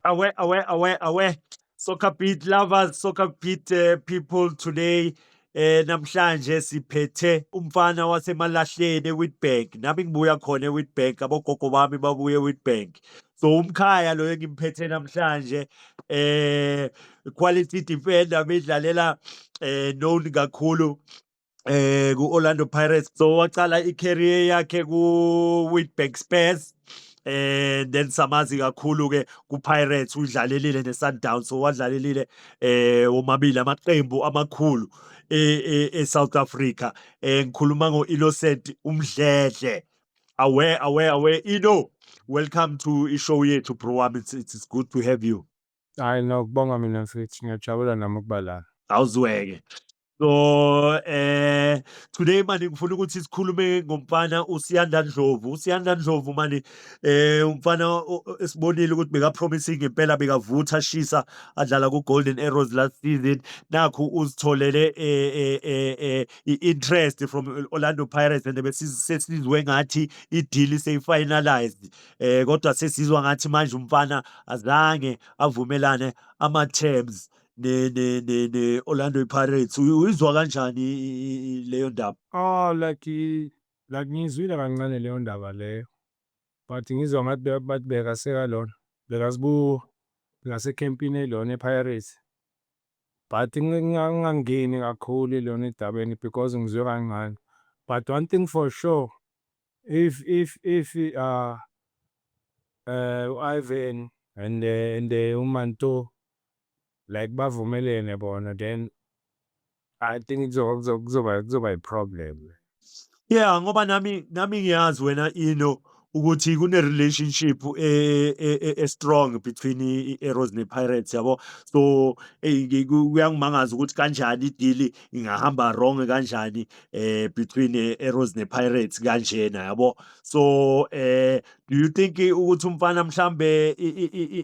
Away, away, away, away. Soccer beat lovers, soccer beat uh, people today. Eh namhlanje siphethe umfana wasemalahleni eWitbank. Nami ngibuya khona eWitbank, abogogo bami babuye eWitbank. So umkhaya lo engimphethe namhlanje eh quality defender bedlalela eh known kakhulu eh ku-Orlando Pirates so waqala i-career yakhe ku-Witbank Spurs eh then samazi kakhulu ke kuPirates udlalelile neSundowns so wadlalelile eh womabili amaqembu amakhulu eSouth e, e Africa eh ngikhuluma ngoInnocent uMdledle aware aware aware Ino welcome to ishow yethu bro wami it's, it's good to have you Hayi no kubonga mina mfethu ngiyajabula nami ukuba la. Awuzweke. So eh today manje ngifuna ukuthi sikhulume ngomfana uSiyanda Ndlovu. USiyanda Ndlovu manje eh umfana o- o- esibonile ukuthi beka promising impela bekavutha ashisa adlala ku Golden Arrows last season. Nakhu uzitholele eh eh eh, eh i-interest from Orlando Pirates and besizwe ngathi i-deal seyifinalized. eh kodwa sesizwa ngathi manje umfana azange avumelane ama terms ne ne ne ne Orlando Pirates uyizwa kanjani leyo ndaba oh like like ngizwile kancane leyo ndaba leyo but ngizwa ngathi bathi beka seka lona beka sibu ngase campini elona ePirates but ngingangeni kakhulu lona edabeni because ngizwe kancane but one thing for sure If if if uh uh u-Ivan and uh, and uh, uManto like bavumelene bona then I think kuzoba kuzoba kuzoba kuzoba i-problem. Yeah, ngoba nami nami ngiyazi wena ino ukuthi kune relationship e, e, e, e strong between i-Arrows ne-Pirates yabo so kuyangimangaza ukuthi kanjani idili ingahamba wrong kanjani eh between eh, Arrows ne Pirates kanjena yabo so eh do you think ukuthi umfana mhlambe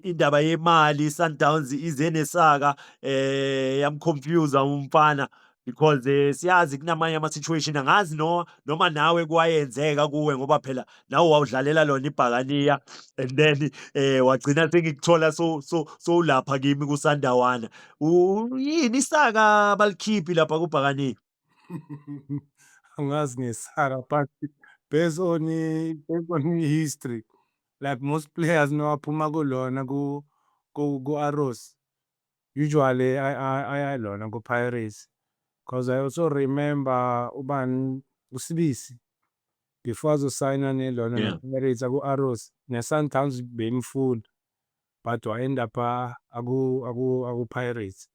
indaba yemali Sundowns ize nesaka eh yamconfuse umfana because eh, siyazi kunamanye ama situation angazi no noma nawe kwayenzeka kuwe ngoba phela nawe wawudlalela lona ibhakaniya and then eh wagcina sengikuthola so so so ulapha kimi kusandawana yini isaka balikhiphi lapha kubhakaniya Angazi ngesaka but based on i- based on i-history like most players nowaphuma kulona ku ku ku-Arrows usually ay- ay- ayalona ku-Pirates because I also remember ubani uSibisi before azosayina nelona Yeah. ne-Pirates aku-Arrows ne-Sundowns beyimfuna. but wa end up aku aku aku Pirates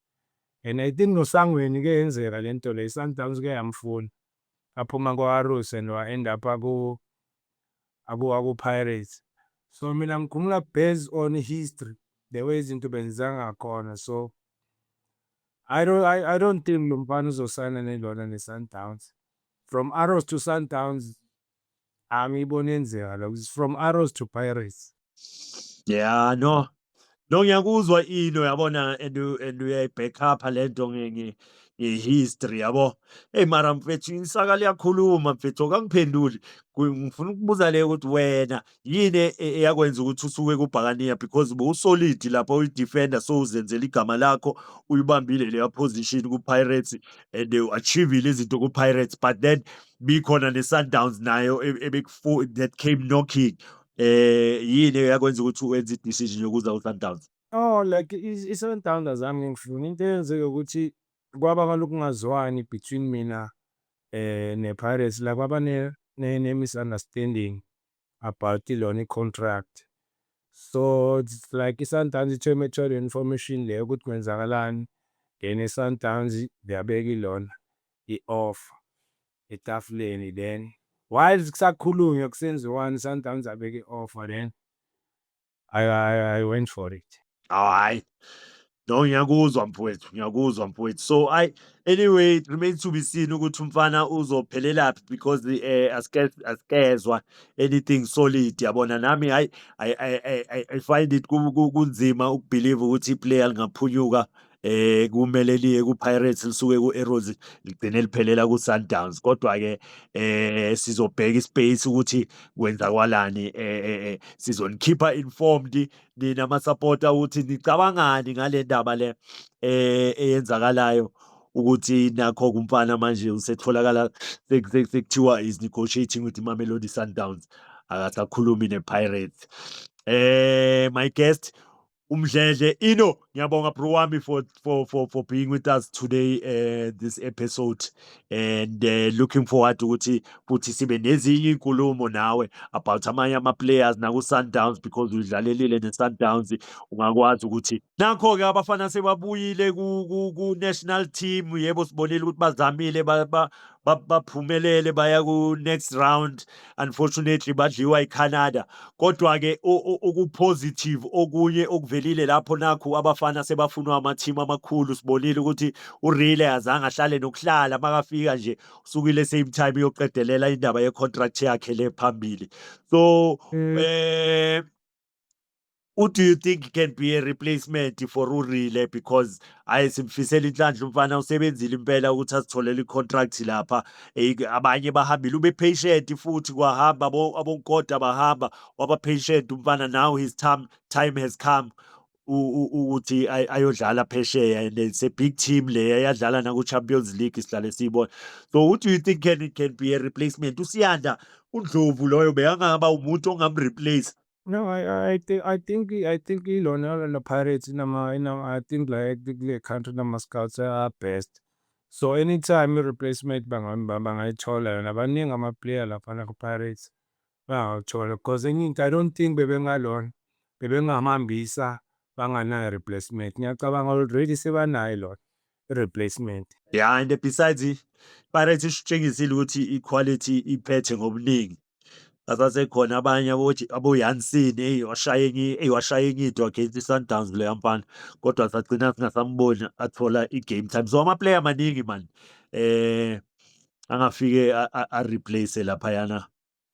and I think nosangweni ke yenzeka lento le Sundowns ke yamfuna aphuma kwa Arrows and wa end up aku aku aku Pirates so mina ngikhumula based on history the way izinto benza ngakhona so I don't I, I don't think lo mfana uzosayina nelona ne Sundowns from Arrows to Sundowns Angiyiboni yenzeka lokho. It's from Arrows to Pirates. Yeah, no. No ngiyakuzwa into yabona and u- and uyayi-back up lento nge- nge- nge-history yabo. Eyi mara mfethu isaka liyakhuluma mfethu akangiphenduli. Ku- Ngifuna ukubuza le ukuthi wena yini e, e, eyakwenza ukuthi usuke kubhakaniya because bowusolid lapha uyi-defender so uzenzela igama lakho uyibambile leya position ku-pirates and u-achievile izinto ku-pirates but then bikhona ne-sundowns nayo e, that came knocking eh yini eyakwenza ukuthi wenze i-decision yokuza ku-sundowns oh like i-sundowns azami ngifuna into eyenzeke ukuthi kwaba ngalokungazwani between mina nePirates la kwaba ne-misunderstanding about lona i-contract. So it's like iSundowns ithe uma ithola i-information le ukuthi kwenzakalani then iSundowns yabeka ilona i-offer etafuleni then while kusakhulunywa kusenziwani iSundowns yabeka i-offer then I, I, I went for it. Oh, hayi. No, ngiyakuzwa mfowethu, ngiyakuzwa mfowethu. So I anyway it remains to be seen ukuthi umfana uzophelelaphi because eh asike asikezwa anything solid yabona nami hayi I I I I- I find it ku- ku- kunzima ukubelieve ukuthi iplayer lingaphunyuka eh kumele liye kuPirates lisuke kuArrows ligcine liphelela kuSundowns kodwa ke eh sizobheka ispace ukuthi kwenzakwalani eh, eh, eh sizonikhipha informed nina ama supporter ukuthi nicabangani ngale ndaba le eh eyenzakalayo ukuthi nakho kumfana manje usetholakala sekuthiwa is negotiating with Mamelodi Sundowns akasakhulumi nePirates eh my guest uMdledle Ino ngiyabonga bro wami for for for for being with us today uh, this episode and uh, looking forward ukuthi futhi sibe nezinye inkulumo nawe about amanye ama players naku Sundowns because udlalelile ne Sundowns ungakwazi ukuthi nakho ke abafana sebabuyile ku, ku, ku national team yebo sibonile ukuthi bazamile ba, ba baphumelele baya ku-next round unfortunately badliwa iCanada kodwa-ke okupositive okunye okuvelile lapho nakhu abafana sebafunwa amathimu amakhulu sibonile ukuthi urile azange ahlale nokuhlala makafika nje usukile same time yoqedelela indaba yecontract yakhe le phambili so um Who do you think can be a replacement for uRile because hayi simfisela inhlanhla umfana usebenzile impela ukuthi asitholele icontract lapha eh, abanye bahambile ube patient futhi kwahamba abonkoda bahamba waba patient umfana now his time time has come ukuthi ayodlala phesheya and it's a big team le yadlala naku-champions league sihlale siyibona so who do you think can, can be a replacement usiyanda undlovu loyo bekangaba umuntu ongamreplace No, I, I, I think I think I think ilona la Pirates inama inama I think like kule country nama scouts are best. So anytime i replacement bangayithola yona baningi ama player lapha na ku Pirates. bengakuthola because enye into I don't think bebengalona bebengahambisa banganayo replacement ngiyacabanga already sebanayo lona i-replacement ya and besides ipirates isitshengisile ukuthi i-quality iphethe ngobuningi asasekhona abanye aboyansini eyi washaya enye into against i-sundowns leya mfana kodwa sagcina singasamboni athola i-game time so amaplayer amaningi mani um angafike areplace laphayana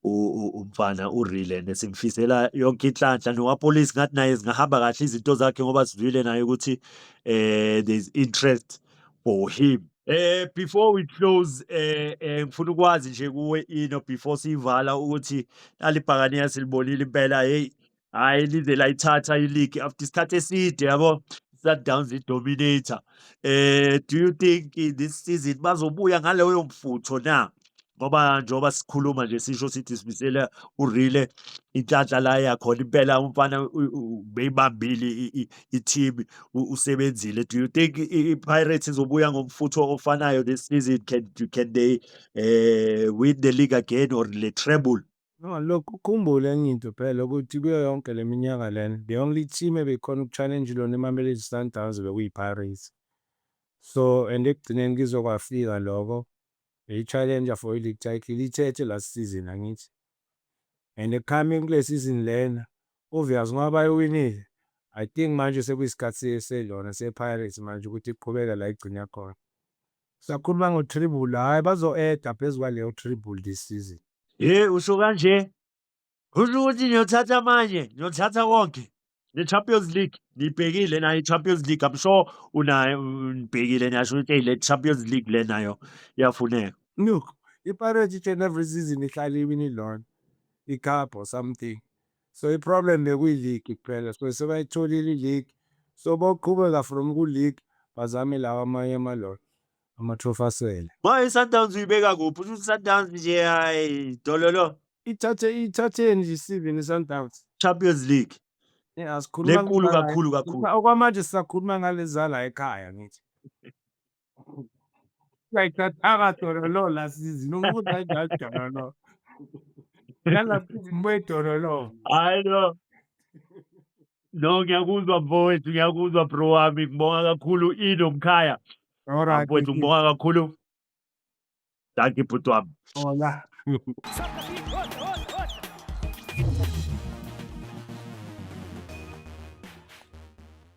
umfana urile and simfisela yonke inhlanhla nowapolice ngathi naye zingahamba kahle izinto zakhe ngoba sizwile naye ukuthi eh there's interest for him eh before we close eh, eh ngifuna ukwazi nje kuwe ino before siyivala ukuthi alibhakane yasilibonile impela hey Hhayi lize layithatha i-league after isikhathi eside yabo. Sundowns i-dominator. Eh, do you think eh, this season bazobuya ngaloyo mfutho na? Ngoba njengoba sikhuluma nje sisho sithi simisele uRile inhlanhla la yakhona impela umfana u- u- ubeyibambile i- i- i-team u- usebenzile. Do you think i- i- i-Pirates izobuya ngomfutho ofanayo this season? Can, can they eh, win the league again or le treble? No, look, ukhumbule enye into phela ukuthi kuyo yonke le minyaka lena, the only team ebekhona uku-challenge lona iMamelodi Sundowns bekuyiPirates. So, and ekugcineni kizokwafika loko, beyi-challenger for i-league title, ithethe last season angithi. And coming kule season lena, obvious ngoba bayiwinile, I think manje sekuyisikhathi selona sePirates manje ukuthi iqhubeke la igcine khona. Sakhuluma ngo treble hayi bazo eda phezu kwaleyo treble this season. Ye usho kanje kusho ukuthi niyothatha amanye niyothatha konke ne-champions league niyibhekile nayo i-champions league i'm sure unayo nibhekile niyasho ukuthi eyi le champions league le nayo iyafuneka look ipirates each and every season ihlale iwini lona icup or something So iproblem bekuyiligi kuphela so sebayitholile iligi so boqhubeka from kuligi bazame lawa amanye amalolo amatrophy asele. Manje iSundowns uyibeka kuphi? Usho ukuthi iSundowns nje hayi dololo. Ithathe ithatheni nje isivini iSundowns. Champions League. Yeah, asikhuluma Lenkulu ngala- kakhulu kakhulu. Okwamanje sisakhuluma ngalezala ekhaya ngithi. Sayithathanga dololo la sizi nokuthi ayidlali dololo. Nalapho izibuye dololo. Hayi no. No ngiyakuzwa mfowethu ngiyakuzwa bro wami ngibonga kakhulu Ido Mkhaya. Alright. Mfowethu ngibonga kakhulu. Dankie bhuti wami. Hola.